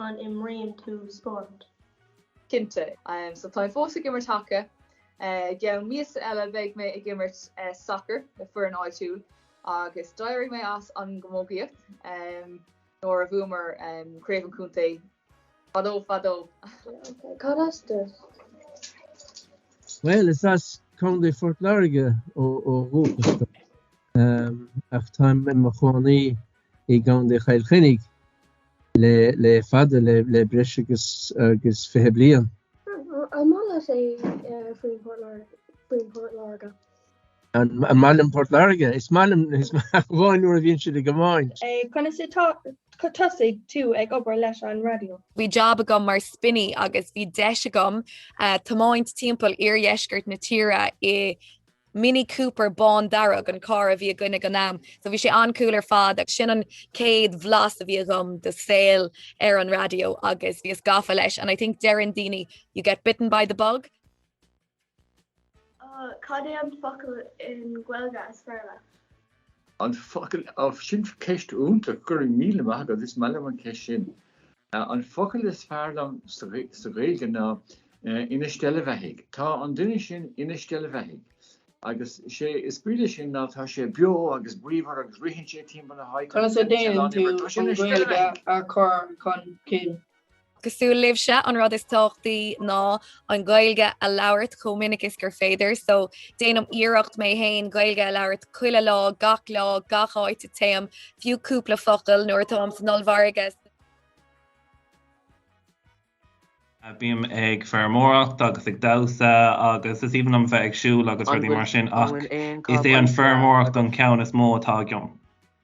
An imríonn tú spórt? Cinnte. So táim fós ag imirt haca. I gceann míosa eile beidh mé ag imirt sacair leis an bhfoireann áitiúil agus d'éirigh mé as an gcamógaíocht nuair a bhuamar craobh an chontae fadó fadó. Cad as duit? Bhuel, is as Contae Phort Láirge ó dhúchas dom ach táim i mo chónaí i gContae Chill Chainnigh le fada le breis agus 20 bliain. An maith leat féin Port Láirge? An maith liom Port Láirge? Is maith liom ach amháin nuair a bhíonn siad ag iomáint. Conas a thosaigh tú ag obair leis an raidió? Bhí jab agam mar spinny agus bhí deis agam tiomáint timpeall oirdheisceart na tíre i Mini Cooper bán dearg an carr a bhí againn ag an am so bhí sé an-cool ar fad agus sin an chéad bhlas a bhí agam de shaol ar an raidió agus bhíos gafa leis and I think deireann daoine you get bitten by the bug. Cad é an focal i nGaeilge is fearr leat? An focal, sin ceist iontach, go raibh míle maith agat, is maith liom an cheist sin. An focal is fearr liom sa Ghaeilge ná ina steillbheathaidh. Tá an duine sin ina steillbheathaidh agus sé is brí le sin ná tá sé beo agus bríomhar agus ritheann sé timpeall na háite agus tá sé lán-iomair. Tá sé ina steillbheathaidh! Conas a deineann tú an Ghaeilge a chur chun cinn? Cosúil libhse an rud is tábhachtaí ná an Ghaeilge a labhairt chomh minic is gur féidir so déanaim iarracht mé fhéin Gaeilge a labhairt chuile lá gach lá gach áit a dtéim fiú cúpla focal nuair atáim san ollmhargadh bím ag feirmeoireacht agus ag damhsa agus is aoibhinn liom bheith ag siúl agus rudaí mar sin ach is é an feirmeoireacht an ceann is mó atá agam.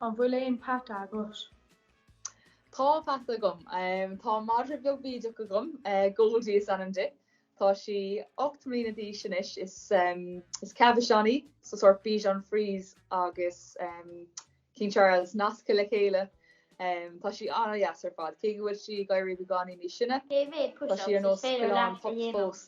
An bhfuil aon peata agat? Tá peata agam. Tá madra beag bídeach agam. Goldie is ainm di. Tá sí ocht mbliana d'aois anois. Is Cavachon í, so sórt Bichon Frise agus King Charles nasctha le chéile. Tá sí an-deas ar fad, cé go bhfuil sí ag éirí beagáinín níos sine. Tá sí ar nós coileán pups fós.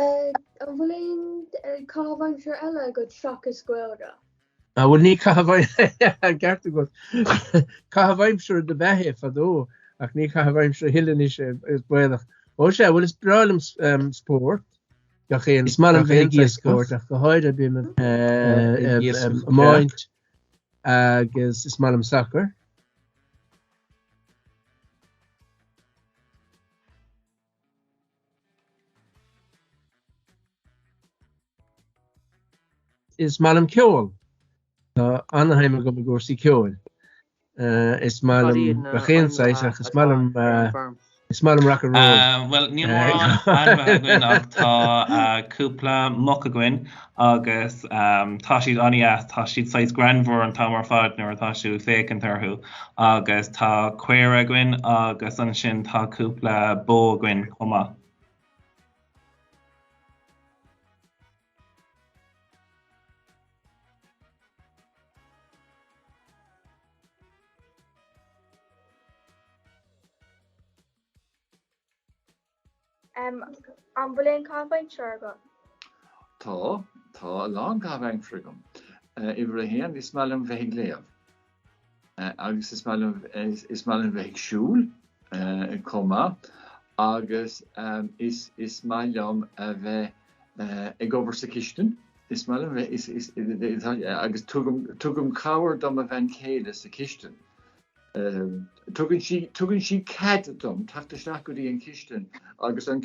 An bhfuil aon chaitheamh aimsire eile agat seachas Gaeilge? Á bhuel tá an ceart agat. Caitheamh aimsire dob ea é fadó ach ní caitheamh aimsire a thuilleadh anois é, is baolach. Ó sea, bhuel is breá liom spórt gach aon saghas, is maith liom a bheith ag imirt spóirt ach go háirithe bím ag imirt. agus is maith liom sacar. Is maith liom ceol. Tá ana-shuim agam i gcúrsaí ceoil. Is maith liom gach aon saghas ach is maith liom is maith liom rock and roll. Ah bhuel níl mórán ainmhithe againn ach tá cúpla muc againn agus tá siad an-deas, tá siad saghas greannmhar an t-am ar fad nuair atá tú ag féachaint orthu agus tá caora againn agus ansin tá cúpla bó againn chomh maith. Em an bhfuil aon caitheamh aimsire agat? Tá, tá a lán caitheamh aimsire agam. Uimhir a haon, is maith liom bheith ag léamh. Agus is maith liom, is maith liom bheith ag siúl chomh maith agus is, is maith liom a bheith ag obair sa chistin. Is maith liom bheith, is, is, agus tugaim, tugaim cabhair do mo bhean chéile sa chistin. Tugann sí, tugann sí cead dom teacht isteach go dtí an chistin agus an,